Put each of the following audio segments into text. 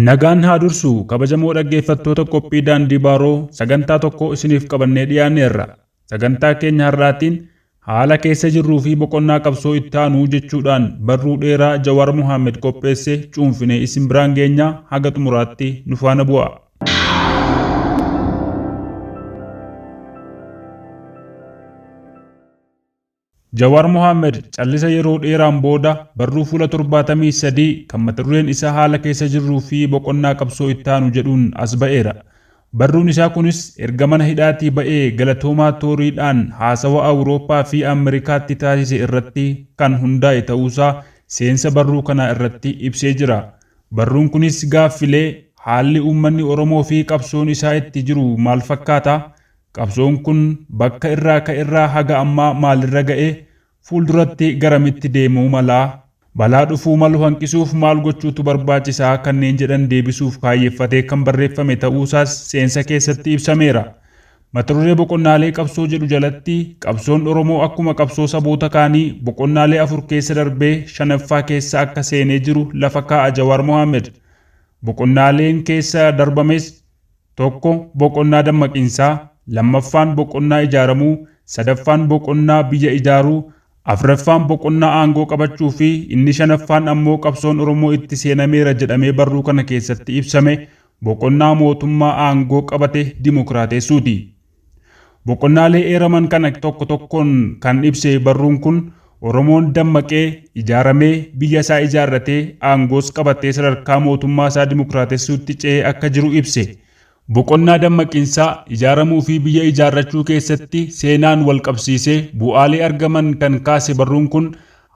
Nagaan haa dursu kabajamoo dhaggeeffattoota qophii daandii baaroo sagantaa tokko isiniif qabannee dhiyaanneerra. Sagantaa keenya har'aatiin Haala keessa jirruu fi boqonnaa qabsoo ittaanu jechuudhaan barruu dheeraa Jawaar Mohammed qopheesse cuunfinee isin biraan geenya haga xumuraatti nu faana bu'aa. Jawaar Mohammed callisa yeroo dheeraan booda barruu fuula 73 kan mata dureen isaa haala keessa jirruu fi boqonnaa qabsoo ittaanu jedhuun as ba'eera. Barruun isaa kunis erga mana hidhaatii ba'ee Galatoomaa Tooriidhaan haasawa Awurooppaa fi Amerikaatti taasise irratti kan hundaa'e ta'uusaa seensa barruu kanaa irratti ibsee jira. Barruun kunis gaaffilee, Haalli uummanni Oromoo fi qabsoon isaa itti jiru maal fakkaata? Qabsoon kun bakka irraa ka'erraa haga ammaa maalirra ga'e? Fuulduratti garamitti deemuu mala? Balaa dhufuu malu hanqisuuf maal gochuutu barbaachisa? kanneen jedhan deebisuuf kaayyeffatee kan barreeffame ta'uusaas seensa keessatti ibsameera. Mataduree Boqonnaalee Qabsoo jedhu jalatti qabsoon Oromoo akkuma qabsoo saboota kaanii boqonnaalee afur keessa darbee shanaffaa keessa akka seenee jiru lafa kaa'a Jawaar Mohaammed. Boqonnaaleen keessa darbames. Tokko boqonnaa dammaqinsaa, lammaffaan boqonnaa ijaaramuu, sadaffaan boqonnaa biyya ijaaruu, afraffaan boqonnaa aangoo qabachuu fi inni shanaffaan ammoo qabsoon Oromoo itti seenameera jedhamee barruu kana keessatti ibsame boqonnaa mootummaa aangoo qabate dimokiraateessuuti. Boqonnaalee eeraman kana tokko tokkoon kan ibse barruun kun, Oromoon dammaqee, ijaaramee, biyya isaa ijaarratee, aangoos qabatee sadarkaa mootummaa isaa dimokraatessuutti ce'ee akka jiru ibse. Boqonnaa dammaqinsaa, ijaaramuu fi biyya ijaarrachuu keessatti seenaan wal qabsiisee bu'aalee argaman kan kaase barruun kun,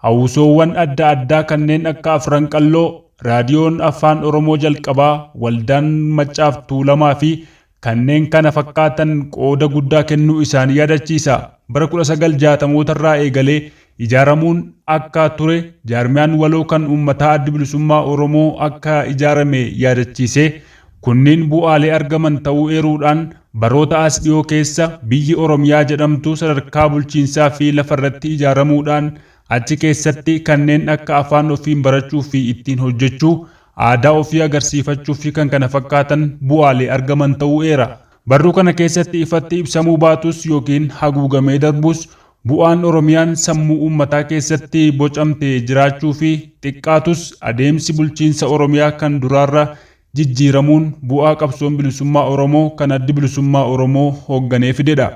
hawwisoowwan adda addaa kanneen akka Afran Qalloo, Raadiyoon Afaan Oromoo jalqabaa, Waldaan Maccaaf Tuulamaa fi kanneen kana fakkaatan qooda guddaa kennuu isaanii yaadachiisa. Bara 1960mootarraa eegalee ijaaramuun akka ture jaarmiyaan waloo kan uummataa Addi Bilisummaa Oromoo akka ijaarame yaadachiisee, kunniin bu'aalee argaman ta'uu eeruudhaan, baroota as dhiyoo keessa biyyi Oromiyaa jedhamtu sadarkaa bulchiinsaa fi lafarratti ijaaramuudhaan achi keessatti kanneen akka afaan ofiin barachuu fi ittiin hojjechuu, aadaa ofii agarsiifachuufi kan kana fakkaatan bu'aalee argaman ta'uu eera. Barruu kana keessatti ifatti ibsamuu baatus yookiin haguugamee darbus bu'aan Oromiyaan sammuu uummataa keessatti bocamte jiraachuufi xiqqaatus adeemsi bulchiinsa Oromiyaa kan duraarra jijjiiramuun bu'aa qabsoon bilisummaa Oromoo kan Addi Bilisummaa Oromoo hoogganee fidedha.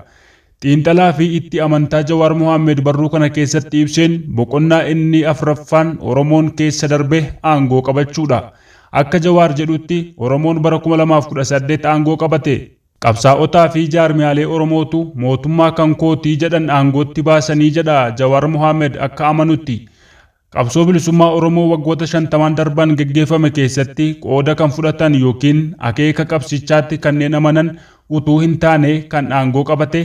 Xiinxalaa fi itti amantaa Jawaar Mohaammed barruu kana keessatti ibseen boqonnaa inni afraffaan Oromoon keessa darbe aangoo qabachuudha. Akka Jawaar jedhutti Oromoon bara kuma lamaa fi kudha saddeet aangoo qabate. Qabsaa'otaa fi jaarmiyaalee Oromootu mootummaa kan kooti jedhan aangootti baasanii jedha Jawaar Mohaammed akka amanutti. Qabsoo bilisummaa Oromoo waggoota shantamaan darban geggeeffame keessatti qooda kan fudhatan yookiin akeeka qabsichaatti kanneen amanan utuu hin taane kan aangoo qabate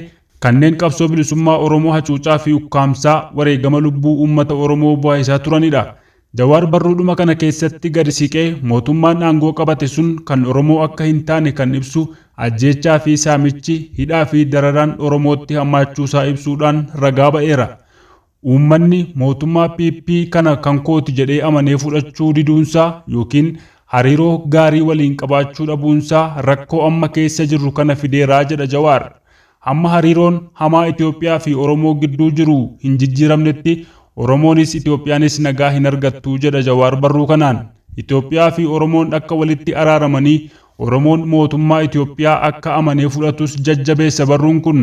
kanneen qabsoo bilisummaa Oromoo hacuucaa fi ukkaamsaa wareegama lubbuu uummata Oromoo buhaisaa turanidha. Jawaar barruudhuma kana keessatti gadi siqee mootummaan aangoo qabate sun kan Oromoo akka hin taane kan ibsu ajjeechaa fi saamichi, hidhaa fi dararaan Oromootti hammaachuusaa ibsuudhaan ragaa ba'eera. Uummanni mootummaa PP kana kan kooti jedhee amanee fudhachuu diduunsaa yookiin hariiroo gaarii waliin qabaachuu dhabuunsaa rakkoo amma keessa jirru kana fideera jedha Jawaar. Hamma hariiroon hamaa Itoophiyaa fi Oromoo gidduu jiru hin jijjiiramnetti Oromoonis Itoophiyaanis nagaa hin argattu jedha Jawaar barruu kanaan. Itoophiyaa fi Oromoon akka walitti araaramanii Oromoon mootummaa Itoophiyaa akka amanee fudhatus jajjabeessa barruun kun.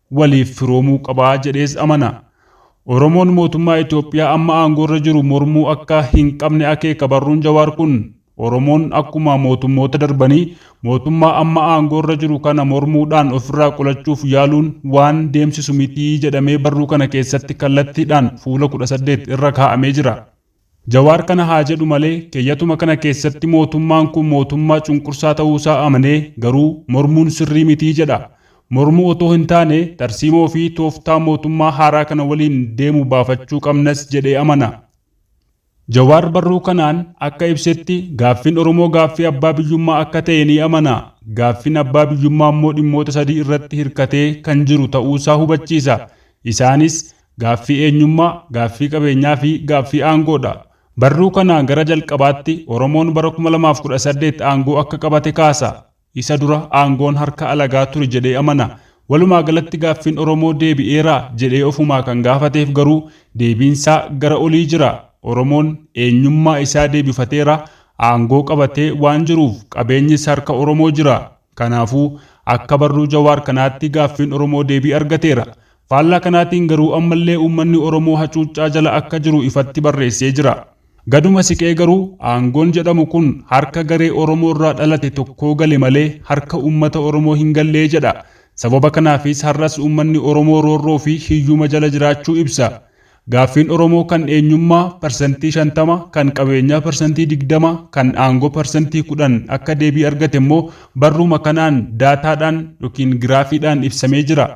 waliif firoomuu qaba jedhees amana. Oromoon mootummaa Itoophiyaa amma aangoorra jiru mormuu akka hin qabne akeeka barruun Jawaar kun. Oromoon akkuma mootummoota darbanii mootummaa amma aangoorra jiru kana mormuudhaan ofirraa qolachuuf yaaluun waan deemsisu miti jedhamee barruu kana keessatti kallattiidhaan fuula kudha saddeet irra kaa'amee jira. Jawaar kana haa jedhu malee keyyatuma kana keessatti mootummaan kun mootummaa cunqursaa ta'uu isaa amanee garuu mormuun sirrii miti jedha. Mormuu otoo hin taane tarsiimoo fi tooftaa mootummaa haaraa kana waliin deemu baafachuu qabnas jedhee amana. Jawaar barruu kanaan akka ibsetti gaaffiin Oromoo gaaffii abbaa biyyummaa akka ta'e ni amana. Gaaffiin abbaa biyyummaa immoo dhimmoota sadii irratti hirkatee kan jiru ta'uu isaa hubachiisa. Isaanis, Gaaffii eenyummaa, gaaffii qabeenyaa fi gaaffii aangoo dha. Barruu kana gara jalqabaatti Oromoon bara 2018 aangoo akka qabate kaasa. Isa dura aangoon harka alagaa ture jedhee amana. Walumaa galatti gaaffiin Oromoo deebi'eera jedhee ofumaa kan gaafateef garuu deebiin isaa gara olii jira. Oromoon eenyummaa isaa deebifateera, aangoo qabatee waan jiruuf qabeenyis harka Oromoo jira. Kanaafuu, akka barruu Jawaar kanaatti gaaffiin Oromoo deebii argateera. Faallaa kanaatiin garuu ammallee uummanni Oromoo hacuuccaa jala akka jiru ifatti barreessee jira. Gaduma siqee garuu, aangoon jedhamu kun harka garee Oromoorraa dhalate tokkoo gale malee harka uummata Oromoo hin gallee jedha. Sababa kanaafis har'as uummanni Oromoo roorroofi hiyyuma jala jiraachuu ibsa. Gaaffiin Oromoo kan eenyummaa parsantii shantama, kan qabeenyaa parsantii digdama, kan aangoo parsantii kudhan akka deebii argate immoo barruuma kanaan daataadhaan yookiin giraafiidhaan ibsamee jira.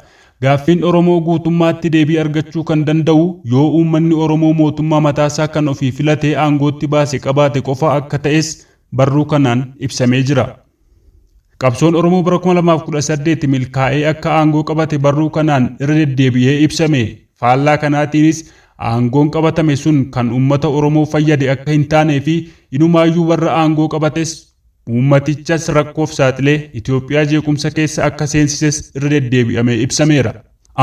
Gaaffiin Oromoo guutummaatti deebii argachuu kan danda'u yoo uummanni Oromoo mootummaa mataasaa kan ofii filatee aangootti baase qabaate qofa akka ta'es barruu kanaan ibsamee jira. Qabsoon Oromoo bara 2018 milkaa'ee akka aangoo qabate barruu kanaan irra deddeebi'ee ibsame. Faallaa kanaatiinis aangoon qabatame sun kan uummata Oromoo fayyade akka hin taanee fi inumaayyuu warra aangoo qabates uummatichas rakkoof saaxilee Itoophiyaa jeequmsa keessa akka seensises irra deddeebi'amee ibsameera.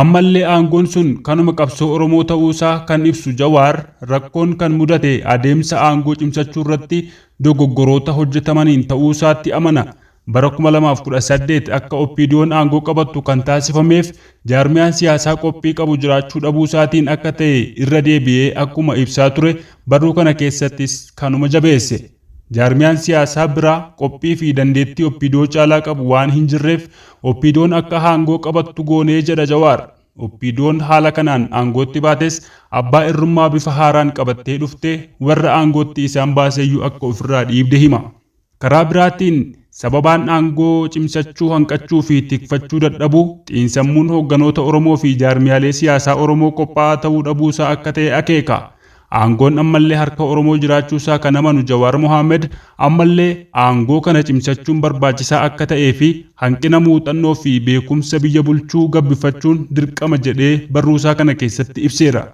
Ammallee aangoon sun kanuma qabsoo Oromoo ta'uusaa kan ibsu Jawaar, rakkoon kan mudate adeemsa aangoo cimsachuurratti dogoggoroota hojjetamaniin ta'uusaatti amana. Bara 2018 akka OPDOn aangoo qabattu kan taasifameef jaarmiyaan siyaasaa qophii qabu jiraachuu dhabuusaatiin akka ta'e irra deebi'ee akkuma ibsaa ture barruu kana keessattis kanuma jabeesse. Jaarmiyaan siyaasaa biraa qophii fi dandeettii Oppiidoo caalaa qabu waan hin jirreef Oppiidoon akka haangoo qabattu goonee jedha Jawaar. Oppiidoon haala kanaan aangootti baates abbaa irrummaa bifa haaraan qabattee dhufte warra aangootti isaan baaseyyuu akka ofirraa dhiibde hima. Karaa biraatiin sababaan aangoo cimsachuu hanqachuu fi tikfachuu dadhabuu xiinsammuun hoogganoota Oromoo fi jaarmiyaalee siyaasaa Oromoo qophaa'aa ta'uu dhabuusaa akka ta'e akeeka. Aangoon ammallee harka Oromoo jiraachuu isaa kan amanu Jawaar Mohaammed ammallee aangoo kana cimsachuun barbaachisaa akka ta'ee fi hanqina muuxannoo fi beekumsa biyya bulchuu gabbifachuun dirqama jedhee barruu isaa kana keessatti ibseera.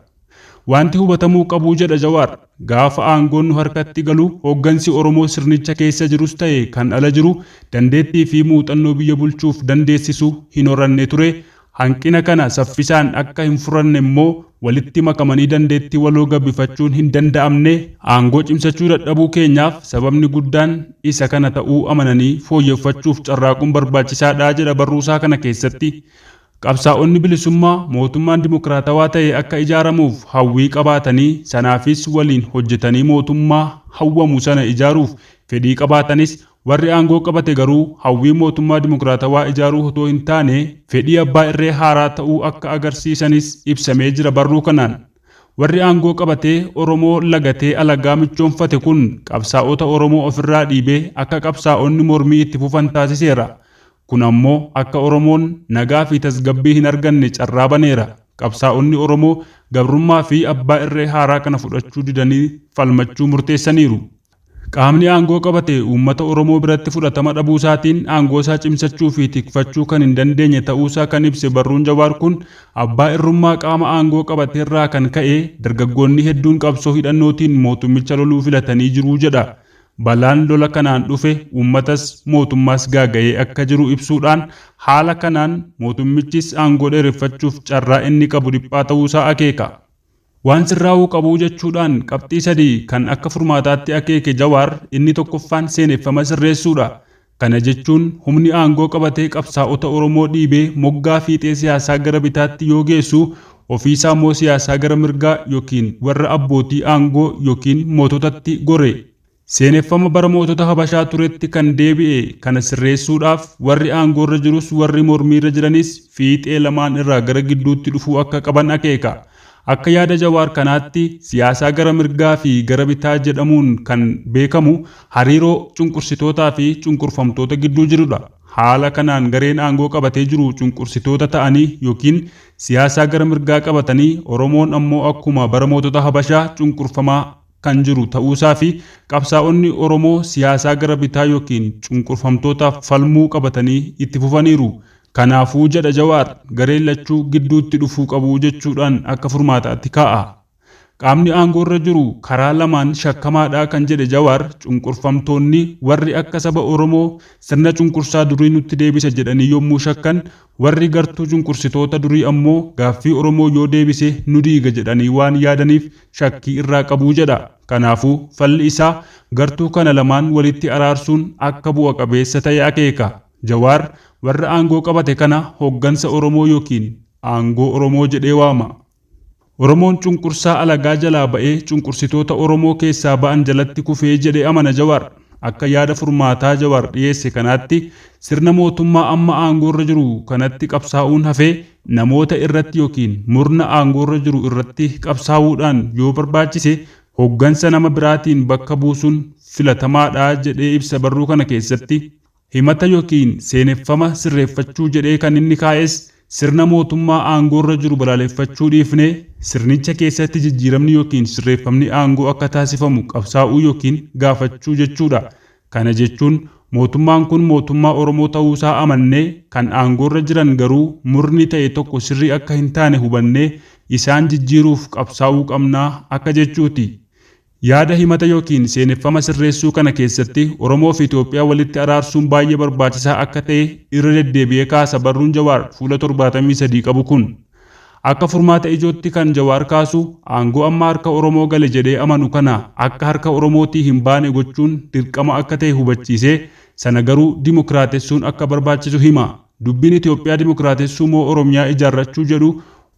Waanti hubatamuu qabu jedha Jawaar, gaafa aangoon nu harkatti galu hooggansi Oromoo sirnicha keessa jirus ta'e kan ala jiru dandeettii fi muuxannoo biyya bulchuuf dandeessisu hin horanne ture, Hanqina kana saffisaan akka hin furanne immoo walitti makamanii dandeettii waloo gabifachuun hin danda'amne, aangoo cimsachuu dadhabuu keenyaaf sababni guddaan isa kana ta'uu amananii fooyyeffachuuf carraaquun barbaachisaa dha jedha barruusaa kana keessatti. Qabsaa'onni bilisummaa mootummaan dimokiraatawaa ta'e akka ijaaramuuf hawwii qabaatanii sanaafis waliin hojjetanii mootummaa hawwamu sana ijaaruuf fedhii qabaatanis Warri aangoo qabate garuu hawwii mootummaa dimokiraatawaa ijaaruu otoo hin taane fedhii abbaa irree haaraa ta'uu akka agarsiisanis ibsamee jira barruu kanaan. Warri aangoo qabatee Oromoo lagatee alagaa michoomfate kun qabsaa'ota Oromoo ofirraa dhiibee akka qabsaa'onni mormii itti fufan taasiseera. Kun ammoo akka Oromoon nagaa fi tasgabbii hin arganne carraa baneera. Qabsaa'onni Oromoo gabrummaa fi abbaa irree haaraa kana fudhachuu didanii falmachuu murteessaniiru. Qaamni aangoo qabate uummata Oromoo biratti fudhatama dhabuusaatiin aangoosaa cimsachuufi tikfachuu kan hin dandeenye ta'uusaa kan ibse barruun Jawaar kun, abbaa irrummaa qaama aangoo qabateerraa kan ka'e dargaggoonni hedduun qabsoo hidhannootiin mootummicha loluu filatanii jiru jedha. Balaan lola kanaan dhufe uummatas mootummaas gaaga'ee akka jiru ibsuudhaan, haala kanaan mootummichis aangoo dheereffachuuf carraa inni qabu dhiphaa ta'uusaa akeeka. Waan sirraa'uu qabu jechuudhaan qabxii sadi kan akka furmaataatti akeeke Jawaar inni tokkoffaan seeneffama sirreessuudha. Kana jechuun humni aangoo qabatee qabsaa'ota Oromoo dhiibee moggaa fiixee siyaasaa gara bitaatti yoo geessu ofiisaammoo siyaasaa gara mirgaa yookiin warra abbootii aangoo yookiin moototatti gore. Seeneffama bara mootota Habashaa turetti kan deebi'e kana sirreessuudhaaf warri aangoorra jirus warri mormiirra jiranis fiixee lamaan irraa gara gidduutti dhufuu akka qaban akeeka. Akka yaada Jawaar kanaatti siyaasaa gara mirgaa fi gara bitaa jedhamuun kan beekamu hariiroo cunqursitootaa fi cunqurfamtoota gidduu jirudha. Haala kanaan gareen aangoo qabatee jiru cunqursitoota ta'anii ykn siyaasaa gara mirgaa qabatanii Oromoon ammoo akkuma bara mootota Habashaa cunqurfamaa kan jiru ta'uusaa fi qabsaa'onni Oromoo siyaasaa gara bitaa yookiin cunqurfamtootaaf falmuu qabatanii itti fufaniiru. Kanaafuu jedha Jawaar, gareen lachuu gidduutti dhufuu qabu jechuudhaan akka furmaataatti kaa'a. Qaamni aangoorra jiru karaa lamaan shakkamaadha kan jedhe Jawaar, cunqurfamtoonni warri akka saba Oromoo sirna cunqursaa durii nutti deebisa jedhanii yommuu shakkan, Warri gartuu cunqursitoota durii ammoo gaaffii Oromoo yoo deebise nu diiga jedhanii waan yaadaniif shakkii irraa qabu jedha. Kanaafuu, falli isaa gartuu kana lamaan walitti araarsuun akka bu'a qabeessa ta'e akeeka. Jawaar warra aangoo qabate kana hoggansa Oromoo yookiin aangoo Oromoo jedhee waama. Oromoon cunqursaa alagaa jalaa ba'ee cunqursitoota Oromoo keessaa ba'an jalatti kufee jedhe amana Jawaar. Akka yaada furmaataa Jawaar dhiyeesse kanaatti sirna mootummaa amma aangoorra jiru kanatti qabsaa'uun hafee namoota irratti yookiin murna aangoorra jiru irratti qabsaa'uudhaan yoo barbaachise hoggansa nama biraatiin bakka buusuun filatamaadha jedhee ibsa barruu kana keessatti Himata yookiin seeneffama sirreeffachuu jedhee kan inni kaa'es sirna mootummaa aangoorra jiru balaaleffachuu dhiifnee sirnicha keessatti jijjiiramni yookiin sirreeffamni aangoo akka taasifamu qabsaa'uu yookiin gaafachuu jechuudha. Kana jechuun mootummaan kun mootummaa Oromoo ta'uusaa amannee kan aangoorra jiran garuu murni ta'e tokko sirrii akka hintaane hubannee isaan jijjiiruuf qabsaa'uu qabna akka jechuuti. Yaada himata yookiin seeneffama sirreessuu kana keessatti Oromoo fi Itoophiyaa walitti araarsuun baay'ee barbaachisaa akka ta'e irra deddeebi'ee kaasa barruun Jawaar fuula torbaatamii sadii qabu kun. Akka furmaata ijootti kan Jawaar kaasu aangoo amma harka Oromoo gale jedhee amanu kana akka harka Oromootii hin baane gochuun dirqama akka ta'e hubachiisee sana garuu dimokiraatessuun akka barbaachisu hima. Dubbiin Itoophiyaa dimokiraatessuu moo Oromiyaa ijaarrachuu jedhu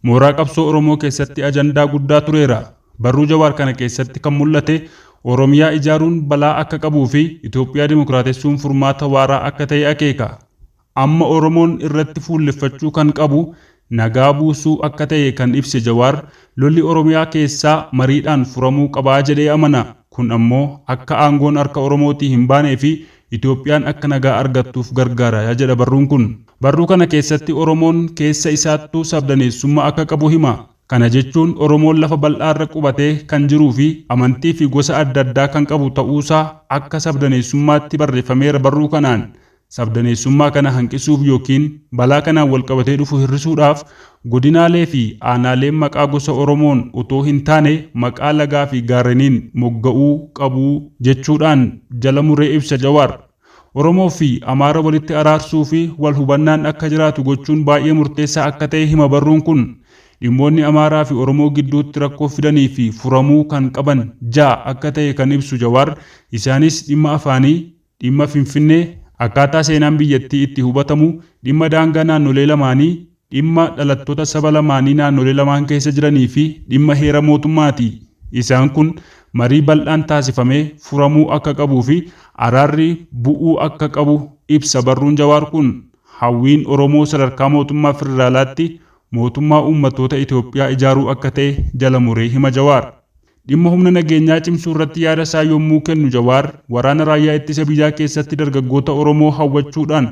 mooraa qabsoo Oromoo keessatti ajandaa guddaa tureera. Barruu Jawaar kana keessatti kan mul'ate Oromiyaa ijaaruun balaa akka qabuu fi Itoophiyaa dimokiraatessuun furmaata waaraa akka ta'e akeeka. Amma Oromoon irratti fuulleffachuu kan qabu nagaa buusuu akka ta'e kan ibse Jawaar, lolli Oromiyaa keessaa mariidhaan furamuu qaba jedhee amana. Kun ammoo akka aangoon harka Oromootii hin baanee fi Itoophiyaan akka nagaa argattuuf gargaara jedha barruun kun. Barruu kana keessatti Oromoon keessa isaattuu sabdaneessummaa akka qabu hima. Kana jechuun Oromoon lafa bal'aarra qubatee kan jiruufi amantiifi gosa adda addaa kan qabu ta'uusaa akka sabdaneessummaatti barreeffameera barruu kanaan sabdaneessummaa kana hanqisuuf yookiin balaa kanaan walqabatee dhufu hir'isuudhaaf godinaaleefi aanaaleen maqaa gosa Oromoon otoo hintaane maqaa lagaafi gaarreniin mogga'uu qabu jechuudhaan jala muree ibsa Jawaar. Oromoo fi Amaara walitti araarsuu fi wal hubannaan akka jiraatu gochuun baay'ee murteessaa akka ta'e hima barruun kun. Dhimmoonni Amaaraa fi Oromoo gidduutti rakkoo fidanii fi furamuu kan qaban ja'a akka ta'e kan ibsu Jawaar, isaanis dhimma afaanii, dhimma Finfinnee, akkaataa seenaan biyyattii itti hubatamu, dhimma daangaa naannolee lamaanii, dhimma dhalattoota saba lamaanii naannolee lamaan keessa jiranii fi dhimma heera mootummaati. Isaan kun marii bal'aan taasifamee furamuu akka qabuu fi araarri bu'uu akka qabu ibsa barruun Jawaar kun. Hawwiin Oromoo sadarkaa mootummaa federaalaatti mootummaa uummattoota Itoophiyaa ijaaruu akka ta'e jala muree hima Jawaar. Dhimma humna nageenyaa cimsuu irratti yaada isaa yommuu kennu Jawaar, waraana raayyaa ittisa biyyaa keessatti dargaggoota Oromoo hawwachuudhaan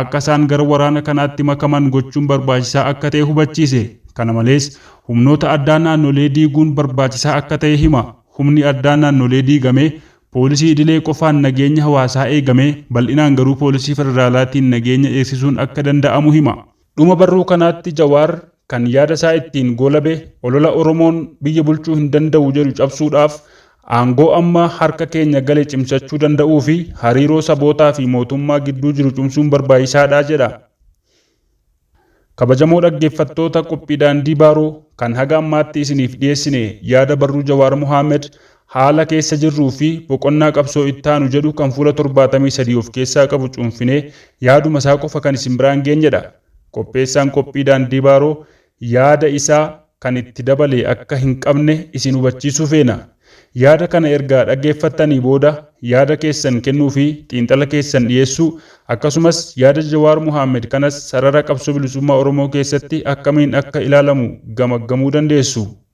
akka isaan gara waraana kanaatti makaman gochuun barbaachisaa akka ta'e hubachiise. Kana malees, humnoota addaa naannolee diiguun barbaachisaa akka ta'e hima. Humni addaa naannolee diigamee poolisii idilee qofaan nageenya hawaasaa eegamee, bal'inaan garuu poolisii federaalaatiin nageenya eegsisuun akka danda'amu hima. Dhuma barruu kanaatti Jawaar kan yaada isaa ittiin goolabe olola Oromoon biyya bulchuu hin danda'u jedhu cabsuudhaaf aangoo amma harka keenya gale cimsachuu danda'uu fi hariiroo sabootaa fi mootummaa gidduu jiru cumsuun barbaachisaa dha jedha. Kabajamoo dhaggeeffattoota qophii Daandii Baaroo kan haga ammaatti isiniif dhiyeessine yaada barruu Jawaar Mohaammed Haala keessa jirruu fi boqonnaa qabsoo ittaanu jedhu kan fuula torbaatamii sadii of keessaa qabu cuunfinee yaaduma isaa qofa kan isin biraan geenye dha. Qopheessaan qophii Daandii Baaroo yaada isaa kan itti dabale akka hin qabne isin hubachiisuu feena. Yaada kana erga dhaggeeffattanii booda yaada keessan kennuu fi xiinxala keessan dhiyeessuu akkasumas yaada Jawaar Mohaammed kanas sarara Qabsoo Bilisummaa Oromoo keessatti akkamiin akka ilaalamu gamaggamuu dandeessu.